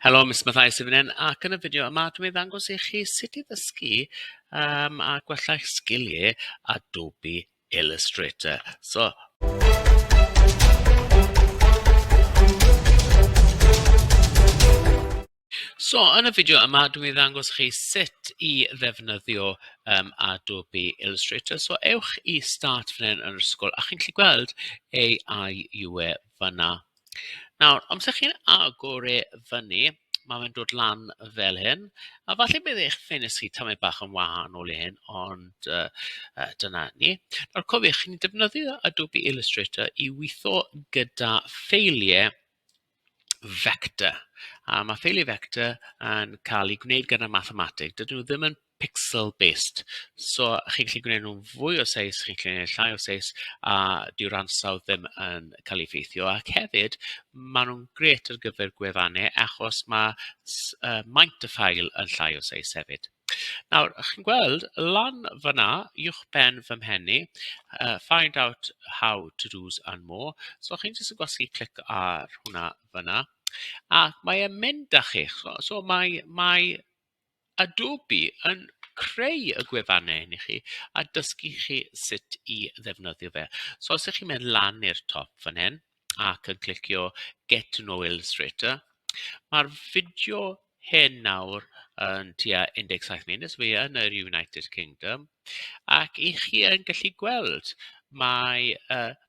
Helo, Mister Matthias sydd fan hyn ac yn y fideo yma dwi'n mynd i ddangos i chi sut i ddysgu um, a gwella eich sgiliau Adobe Illustrator. So, So, yn y fideo yma, dwi'n mynd i ddangos chi sut i ddefnyddio um, Adobe Illustrator. So, ewch i Start fan hyn yn yr ysgol, a chi'n gallu gweld AI UE fanna. Nawr, amser chi'n agor e fyny, mae fe'n dod lan fel hyn. A falle bydd eich ffenestri tamed bach yn wahanol i hyn, ond yy yy dyna ni. Nawr cofiwch, chi'n defnyddio Adobe Illustrator i weithio gyda ffeiliau vector. A ma' ffeiliau vector yn cael eu gwneud gyda mathemateg. Dydyn nhw ddim yn... pixel based so chi'n gallu gwneud nhw'n fwy o seis, chi'n gallu gwneud llai o seis a dyw'r ansawdd ddim yn cael ei effeithio. Ac hefyd maen nhw'n grêt ar gyfer gwefannau achos mae s- yy maint y ffail yn llai o seis hefyd. Nawr chi'n gweld lan fan'na uwch ben fy mhen i yy find out how to do's and more so chi'n jyst yn gwasgu clic ar hwnna fan'na a mae e'n mynd â chi so so mae mae Adobe yn creu y gwefannau hyn i chi a dysgu chi sut i ddefnyddio fe. So os ych chi'n mynd lan i'r top fan hyn ac yn clicio Get to know Illustrator, mae'r fideo hyn nawr yn tua 17 munud, so mae e yn yr United Kingdom, ac 'y chi yn gallu gweld mai yy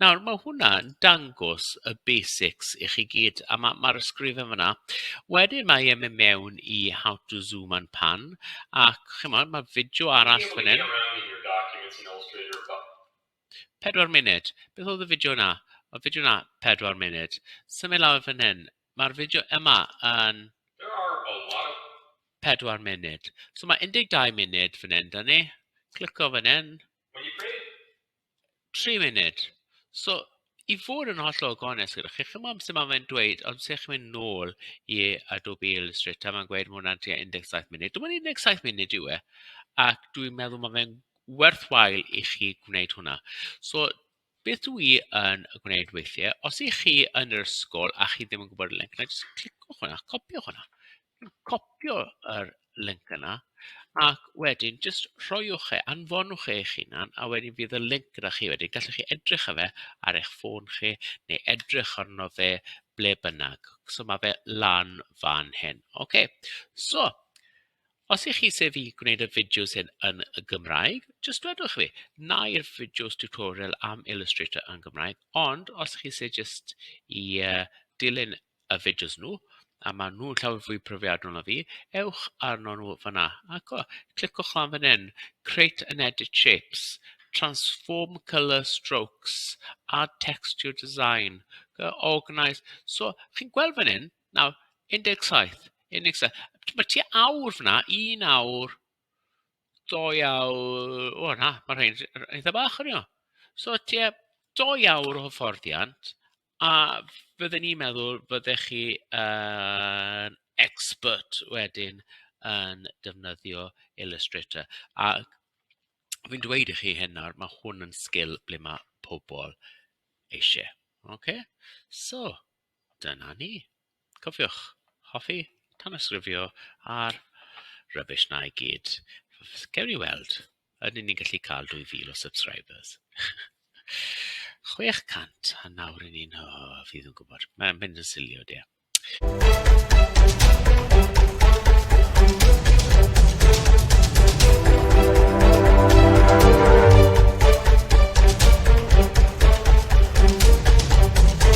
Nawr ma' hwnna yn dangos y basics i chi gyd a ma' ma'r ysgrifen fan'na. Wedyn mae e'n mynd mewn i how to zoom and pan ac ch'mod ma' fideo arall fan 'yn. Pedwar munud. Beth oedd y fideo 'na? O'dd fideo 'na pedwar munud. Symud lawr fan hyn. Ma'r fideo yma yn pedwar munud. So ma' 12 munud fan 'yn 'da ni. Clico fan 'yn. Tri munud. So i fod yn hollol gonest gyda chi, chimod sut mae fe'n dweud, os ydych chi'n mynd nôl i Adobe Illustrator, mae'n gweud mae hwnna'n tua 17 munud. Dim ond 17 munud yw e, ac dwi'n meddwl mae fe'n werthwael i chi gwneud hwnna. So beth dwi i yn gwneud weithiau, os ych chi yn yr ysgol a chi ddim yn gwybod y link, na jyst cliciwch hwnna, copiwch hwnna. copïo yr linc yna ac wedyn jyst rhoiwch e, anfonwch e eich hunan a wedyn fydd y linc gyda chi wedyn. Gallwch chi edrych ar fe ar eich ffôn chi neu edrych arno fe ble bynnag. So mae fe lan fan hyn. OK, so os ych chi sef i gwneud y fideos hyn yn y Gymraeg, jyst dwedwch fi, na i'r fideos tutorial am Illustrator yn Gymraeg, ond os chi sef jyst i uh, dilyn y fideos nhw a maen nhw'n llawer fwy profiadol na fi, ewch arno nhw fanna ac o, cliciwch lan fan hyn, create and edit shapes, transform colour strokes, add text to your design, organise, so chi'n gweld fan hyn, nawr 17, 17, mae ti awr fanna, un awr, doi awr, o na, mae rhain eitha bach yn iawn. So ti e, doi awr o hyfforddiant A fydden i'n meddwl fyddech chi yn expert wedyn yn defnyddio Illustrator. A fi'n dweud i chi hyn nawr, ma' hwn yn sgil ble ma' pobl eisiau. Ocê so dyna ni. Cofiwch, hoffi tanysgrifio ar rubbish 'na i gyd. Gawn ni weld. Ydyn ni'n gallu cael 2000 o subscribers? 600 a nawr ry'n ni'n... o, fi ddim yn gwybod. Mae'n mynd yn silly o dear.